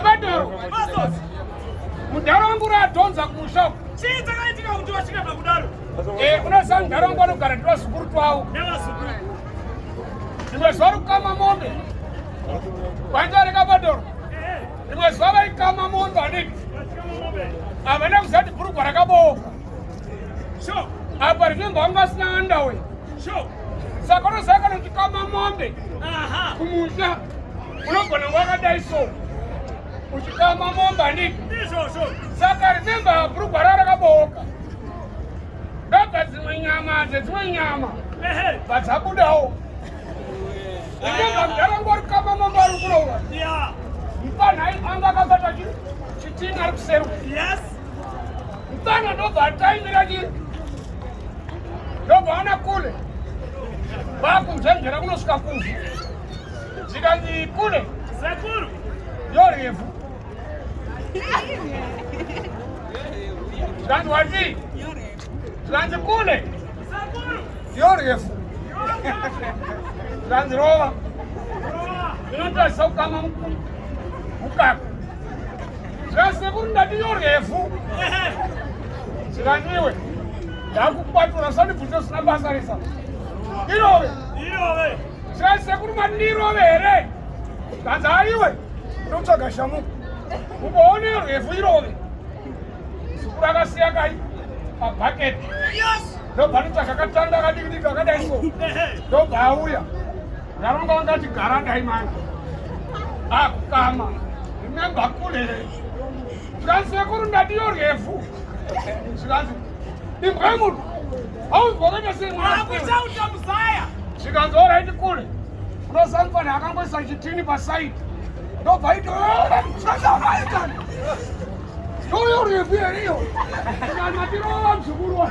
Badoro. Mudhara wangu radhonza kumusha. Chii dzakaitika kuti vasvika pakudaro? Eh, unoziva mudhara wangu anogara ndivazukuru twavo. Nevazukuru. Rimwe zuva rikukama mombe. Vaita reka Badoro. Rimwe zuva vaikama mombe aniki. Havana kuziva kuti bhurugwa rakabooka. Sure. Apa rinenge wangu asina andawe. Sure. Saka unoziva kana kuti kama mombe. Aha. Kumusha. unogona wakadai so uchitama momba ndiki saka rememba brugwa ra rakabooka ndobva dzimwe nyama dzedzimwe nyama vadzabudawo rememba mdara ngori kama momba ari kuroura mpanhai anga akabata chitinga ari kuseruka mfana ndobva ataimira chii ndobva ana kule vakunzvenzvera kunosvika kuzvi zvikanzi kune sekuru yorefu zvikanzi wati zvikanzi kune yorefu zvikanzi rova inotarisa kukama mukaka zvikanzi sekuru ndati yorefu zvikanzi iwe ndakukwatura sanibvunze usina basa resa irove irove Sekuru mandirove here? Kanzi haiwe unotsvaga shamu uboone rwefu irove. Sekuru akasiya kai pabhaketi ndobva anotsvaga katanda akadikidiki akadai so ndobva auya ndaromba ungati gara dai mani akukama remember kule zvikanzi sekuru ndadiyo rwefu zvikanzi imbwe munhu Hauzorega sei mwana. Akuita utamuzaya. Chikanzi all right kule. Unosamfana akangoisa chitini pa side. Ndobva ito. Yoyo refu here iyo. Kana tirova mzukuru.